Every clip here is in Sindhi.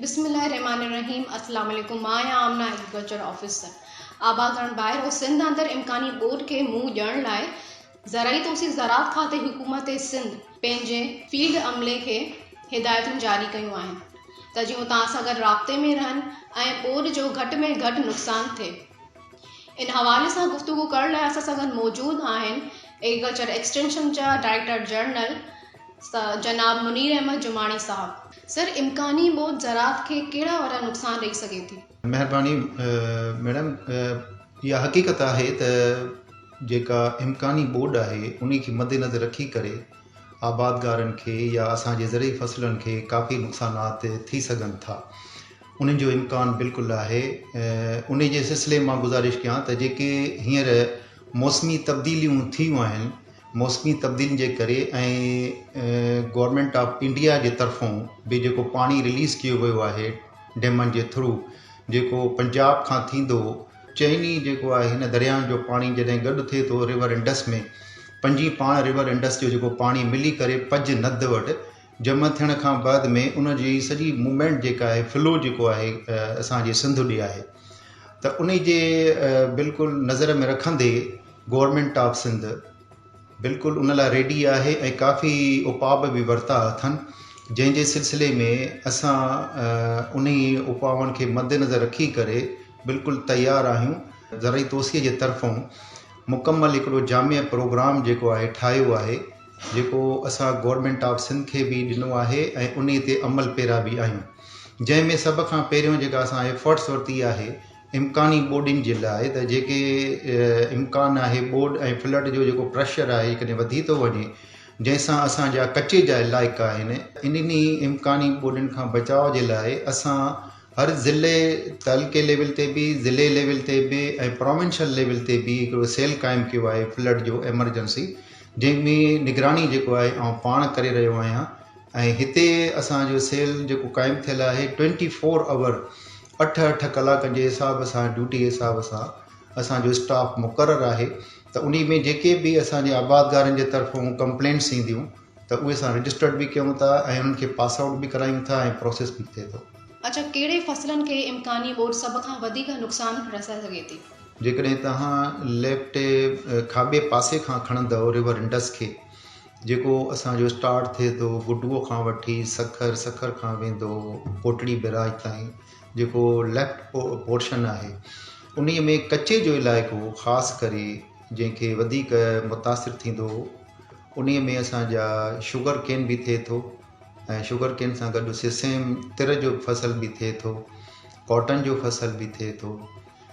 بسم الله الرحمٰن الرحيم اسلام عليڪم مان آهيان آمنه ايگريڪلچر آفيسر آبادگڙھ ٻاهر ۽ سنڌ اندر امڪاني ٻوڏ کي منهن ڏيڻ لاء زرعي توسيع زراعت کاتي حڪومت سنڌ پنهنجي فيلڊ عملي کي هدايتون جاري ڪيون آهن ته جيئن هو توهان سان گڏ رابطي ۾ رهن ۽ ٻوڏ جو گهٽ ۾ گهٽ نقصان ٿئي ان حوالي سان گفتگو ڪرڻ لاء اسان سان گڏ موجود آهن ايگريڪلچر ايڪسٽينشن جا ڊائريڪٽر جنرل جناب منير احمد جماڻي صاحب سر امڪاني موت زراعت کي ڪهڙا وڏا نقصان ڏئي سگهي ٿي؟ مهرباني ميڊم اها حقيقت آهي ته جيڪا امڪاني ٻوڏ آهي انهي کي مد نظر رکي ڪري آبادگارن کي يا اسان جي زرعي فصلن کي ڪافي نقصانات ٿي سگهن ٿا انهن جو امڪان بلڪل آهي انهي جي سلسلي مان گذارش ڪيان ته جيڪي هينئر موسمي تبديليون ٿيون آهن موسمي تبديلين جي ڪري ۽ گورنمينٽ آف انڊيا جي طرفون به جيڪو پاڻي رليز ڪيو ويو آهي ڊيمن جي ٿرو جيڪو پنجاب کان ٿيندو چئني جيڪو آهي هن درياهن جو پاڻي جڏهن گڏ ٿئي ٿو ريور انڊس ۾ پنجي پاڻ ريور انڊس جو جيڪو پاڻي ملي ڪري پج ند وٽ جمع ٿيڻ کان بعد ۾ ان جي سڄي موومينٽ جيڪا آهي فلو جيڪو آهي اسان جي سنڌ ڏي آهي ته ان جي بلڪل نظر ۾ رکندي گورنمينٽ آف سنڌ بلڪل ان لاء ريڊي آهي ۽ ڪافي اپاء به ورتا اٿن جنهن جي سلسلي ۾ اسان ان اپاون کي مد نظر رکي ڪري بلڪل تيار آهيون ذرعي توسيع جي طرفون مڪمل هڪڙو جامع پروگرام جيڪو آهي ٺاهيو آهي جيڪو اسان گورنمينٽ آف سنڌ کي به ڏنو آهي ۽ انهي تي عمل پيرا به آهيون جنهن ۾ سڀ کان پهريون جيڪا اسان ايفرٽس ورتي آهي امڪاني ٻوڏين جي لاء ته جيڪي امڪان آهي ٻوڏ ۽ فلڊ جو جيڪو پريشر آهي جيڪڏهن وڌي ٿو وڃي جنهن سان اسان جا ڪچي جا علائقا آهن انهن ئي امڪاني ٻوڏين کان بچاء جي لاء اسان هر ضلعي تعلقي ليول تي به ضلعي ليول تي به ۽ پراونشل ليول تي به هڪڙو سيل قائم ڪيو آهي فلڊ جو ايمرجنسي جنهن ۾ نگراني جيڪو آهي آئون پاڻ ڪري رهيو آهيان ۽ هتي اسان جو سيل جيڪو قائم ٿيل آهي ٽوئنٽي فور آور اٺ اٺ ڪلاڪن جي حساب سان ڊيوٽي جي حساب سان اسان جو اسٽاف مقرر آهي ته ان ۾ جيڪي به اسان جي آباد گارن جي طرفون ڪمپلينٽس اينديون ته اهي اسان رجسٽرڊ به ڪيون ٿا ۽ انهن کي پاس آئوٽ به ڪرايون ٿا ۽ پروسيس به ٿئي ٿو. اچا ڪهڙي فصلن کي امڪاني ٻوڏ سڀ کان وڌيڪ نقصان رسائي سگهي ٿي؟ جيڪڏهن توهان ليفٽ کاٻي پاسي کان کڻندؤ ريور انڊس کي جيڪو اسان جو اسٽارٽ ٿئي ٿو گڊوء کان وٺي سکر سکر کان ويندو ڪوٽڙي بئراج تائين جيڪو ليفٽ پورشن آهي انهي ۾ ڪچي جو علائقو خاص ڪري جنهن کي وڌيڪ متاثر ٿيندو هو انهي ۾ اسان جا شگر ڪين به ٿئي ٿو ۽ شگر ڪين سان گڏ سسيم تر جو فصل به ٿئي ٿو ڪاٽن جو فصل به ٿئي ٿو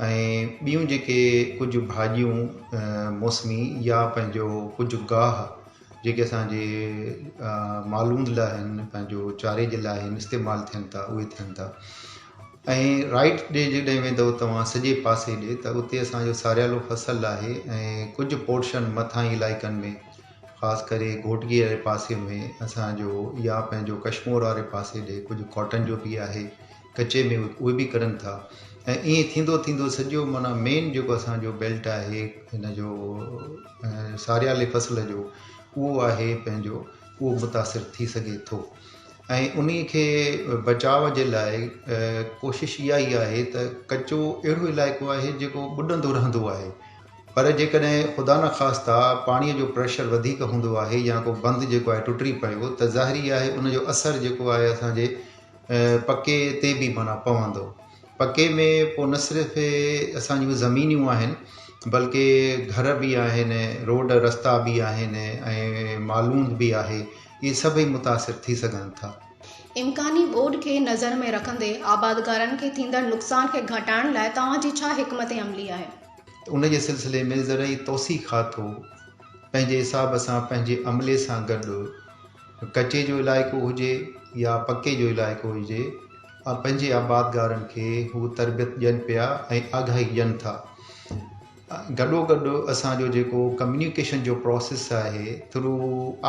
۽ ٻيون جيڪي ڪجهه ڀاڄيون موسمي يا پنهنجو ڪجهه گاهه جيڪي اسان جي مالوند لاء آهن پنهنجو چاري جي لاء آهن استعمال ٿين ٿا اهي ٿين ٿا ۽ رائٽ ڏي جڏهن ويندو توهان سڄي پاسي ڏي ته اتي اسان جو ساريالو فصل آهي ۽ ڪجهه پورشن مٿانهين علائقن ۾ خاص ڪري گهوٽڪي واري پاسي ۾ اسان جو يا پنهنجو ڪشمور واري پاسي ڏي ڪجهه ڪاٽن جو بي آهي ڪچي ۾ اهي به ڪرن ٿا ۽ ائين ٿيندو ٿيندو سڄو معنيٰ مين جيڪو اسان جو بيلٽ آهي ان جو ساريالي فصل جو اهو آهي پنهنجو اهو متاثر ٿي سگهي ٿو ۽ انهي کي بچاء جي لاء ڪوشش اها ئي آهي ته ڪچو اهڙو علائقو آهي جيڪو ٻڏندو رهندو آهي پر جيڪڏهن خدا نه خاصتا پاڻي جو پريشر وڌيڪ هوندو آهي يا ڪو بند جيڪو آهي ٽٽي پيو ته ظاهري آهي ان جو اثر جيڪو آهي اسان جي پڪي تي به معنيٰ پوندو. پڪي ۾ پوء نه صرف اسان جون زمينون آهن بلڪه گهر به آهن، روڊ رستا به آهن ۽ مالوند به آهي، اهي سڀئي متاثر ٿي سگهن ٿا. امڪاني ٻوڏ کي نظر ۾ رکندي آبادگارن کي ٿيندڙ نقصان کي گهٽائڻ لاء توهان جي ڇا حڪمت عملي آهي؟ ان جي سلسلي ۾ زرعي توسيع کاتو پنهنجي حساب سان پنهنجي عملي سان گڏ، ڪچي جو علائقو هجي يا پڪي جو علائقو هجي پنهنجي آبادگارن کي هو تربيت ڏين پيا ۽ آگاهي ڏين ٿا گڏو گڏ اسان جو جيڪو ڪميونيڪيشن جو پروسيس آهي through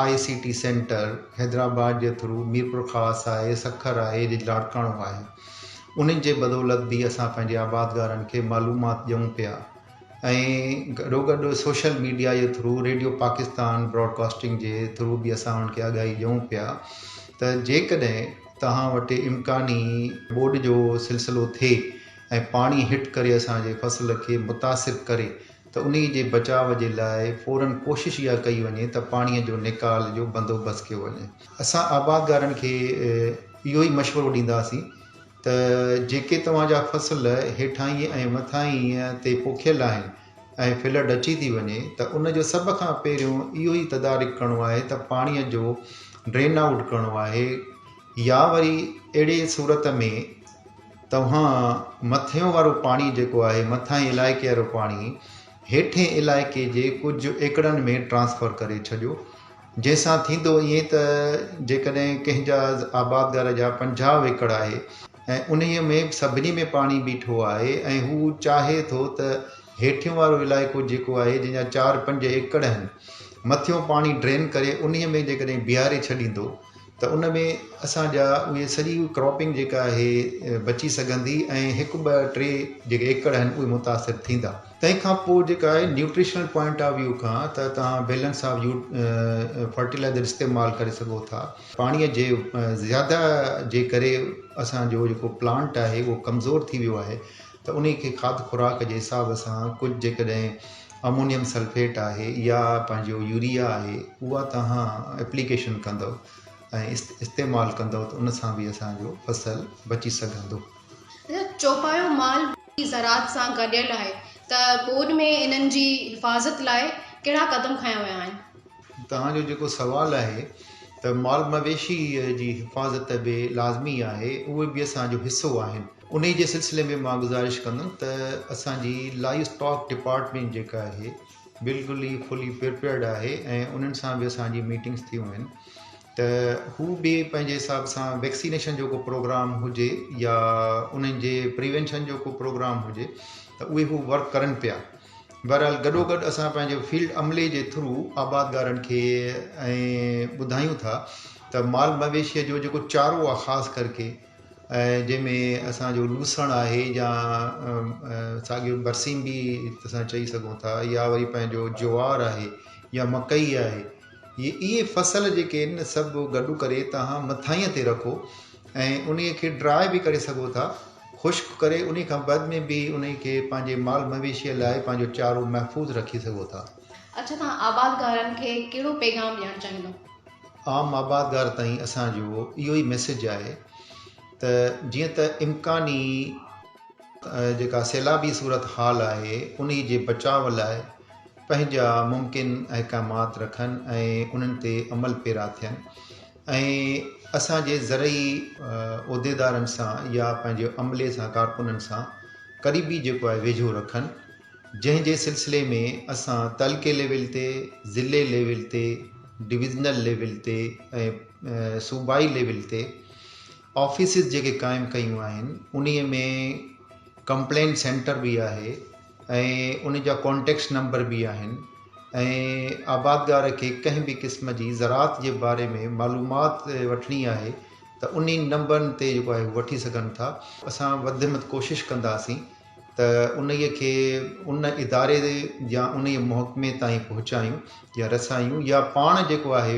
I C T centre Hyderabad جي ٿرو ميرپور خاص آهي سکر آهي جي لاڙڪاڻو آهي انهن جي بدولت به اسان پنهنجي آبادگارن کي معلومات ڏيون پيا ۽ گڏوگڏ سوشل ميڊيا جي ٿرو ريڊيو پاڪستان براڊڪاسٽنگ جي ٿرو به اسان انهن کي آگاهي ڏيون پيا ته جيڪڏهن توهان وٽ امڪاني ٻوڏ جو سلسلو ٿئي ۽ پاڻي هٽ ڪري اسان جي فصل کي متاثر ڪري ته انهي جي بچاء جي لاء فورن ڪوشش اها ڪئي وڃي ته پاڻي جو نيڪال جو بندوبست ڪيو وڃي. اسان آبادگارن کي اهو ئي مشورو ڏينداسين ته جيڪي توهان جا فصل هيٺاهين ۽ مٿاهين تي پوکيل آهن ۽ ڦلهه ڍچي ٿي وڃي ته ان جو سڀ کان پهريون اهو ئي تدارڪ ڪرڻو آهي ته پاڻيء جو ڊرين آئوٽ ڪرڻو آهي يا وري اهڙي صورت ۾ توهان مٿيون وارو پاڻي جيڪو آهي مٿاهين علائقي وارو پاڻي هيٺين علائقي جي ڪجهه ايڪڙن ۾ ٽرانسفر ڪري ڇڏيو جنهن سان ٿيندو ائين ته جيڪڏهن ڪنهن جا آبادگار جا پنجاهه ايڪڙ آهي ۽ انهيء ۾ سڀني ۾ پاڻي بيٺو آهي ۽ هو چاهي ٿو ته هيٺيون وارو علائقو جيڪو آهي جنهن جا چار پنج ايڪڙ آهن مٿيون پاڻي ڊرين ڪري انهيء ۾ جيڪڏهن بيهاري ڇڏيندو ته ان ۾ اسان جا اهي سڄي ڪراپنگ جيڪا آهي بچي سگهندي ۽ هڪ ٻه ٽي جيڪي ايڪڙ آهن اهي متاثر ٿيندا تنهن کان پوء جيڪا آهي نيوٽريشنل پوائنٽ آف ويو کان ته توهان بيلنس آف يو فرٽيلائزر استعمال ڪري سگهو ٿا پاڻي جي زياده جي ڪري اسان جو جيڪو پلانٽ آهي اهو ڪمزور ٿي ويو آهي ته انهي کي کاڌ خوراڪ جي حساب سان ڪجهه جيڪڏهن امونيم سلفيٽ آهي يا پنهنجو يوريا آهي اها توهان اپليڪيشن ڪندو ۽ استعمال ڪندو ته ان سان به اسان جو فصل بچي سگهندو. چوپايو مال ٻوڏي زراعت سان گڏيل آهي ته ٻوڏ ۾ انهن جي حفاظت لاء ڪهڙا قدم کنيا ويا آهن؟ توهان جو جيڪو سوال آهي ته مال مويشي جي حفاظت به لازمي آهي اهي به اسان جو حصو آهن. انهي جي سلسلي ۾ مان گذارش ڪندم ته اسان جي لائيو اسٽاڪ ڊپارٽمينٽ جيڪا آهي بلڪل ئي فلي پرپيئرڊ آهي ۽ انهن سان به اسان جي ميٽنگس ٿيون آهن ته هو به پنهنجي حساب سان ويڪسينيشن جو ڪو پروگرام هجي يا انهن جي پريونشن جو ڪو پروگرام هجي ته اهي هو ورڪ ڪرن پيا بهرحال گڏو گڏ اسان پنهنجو فيلڊ عملي جي ٿرو آبادگارن کي ۽ ٻڌايون ٿا ته مال مويشيء جو جيڪو چارو آهي خاص ڪرڪي ۽ جنهن ۾ اسان جو لوسڻ آهي يا ساڳيو برسيم به اسان چئي سگهون ٿا يا وري پنهنجو جوار آهي يا مڪئي آهي هي اهي فصل جيڪي آهن سڀ گڏو ڪري توهان مٿاهينء تي رکو ۽ انهي کي ڊراء به ڪري سگهو ٿا خشڪ ڪري انهي کان بعد ۾ به انهي کي پنهنجي مال مويشيء لاء پنهنجو چارو محفوظ رکي سگهو ٿا اڇا توهان آبادگارن کي ڪهڙو پيغام ڏيڻ چاهيندو؟ عام آبادگار تائين اسان جو اهو ئي ميسيج آهي ته جيئن ته امڪاني جيڪا سيلابي صورت حال آهي انهي جي بچاء لاء پنهنجا ممڪن احڪامات رکن ۽ انهن تي عمل پيرا ٿين ۽ اسان جي زرعي عهديدارن سان يا پنهنجي عملي سان ڪارڪنن سان قريبي جيڪو آهي ويجهو رکن. جنهن جي سلسلي ۾ اسان تعلقي ليول تي، ضلعي ليول تي، ڊويزنل ليول تي ۽ صوبائي ليول تي آفيسز جيڪي قائم ڪيون آهن انهي ۾ ڪمپلين سينٽر به آهي ۽ ان جا ڪانٽيڪٽس نمبر به آهن ۽ آبادگار کي ڪنهن به قسم جي زراعت جي باري ۾ معلومات وٺڻي آهي ته انهي نمبرن تي جيڪو آهي وٺي سگهن ٿا اسان وڌ مٿ ڪوشش ڪنداسين ته انهيء کي ان اداري يا انهيء محڪمي تائين پهچايون يا رسايون يا پاڻ جيڪو آهي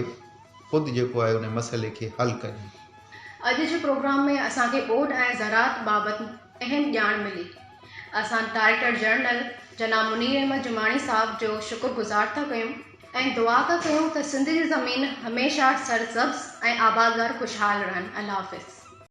خود جيڪو آهي ان مسئلي کي حل ڪريون. اڄ جي پروگرام ۾ اسان کي ٻوڏ ۽ زراعت بابت اهم ڄاڻ ملي. اسان ڊائريڪٽر جنرل جناب منير احمد جماڻي صاحب جو شڪر گذار ٿا ڪيون ۽ دعا ٿا ڪيون ته سنڌ جي زمين هميشه سرسبز ۽ آبادگار خوشحال رهن. الله حافظ.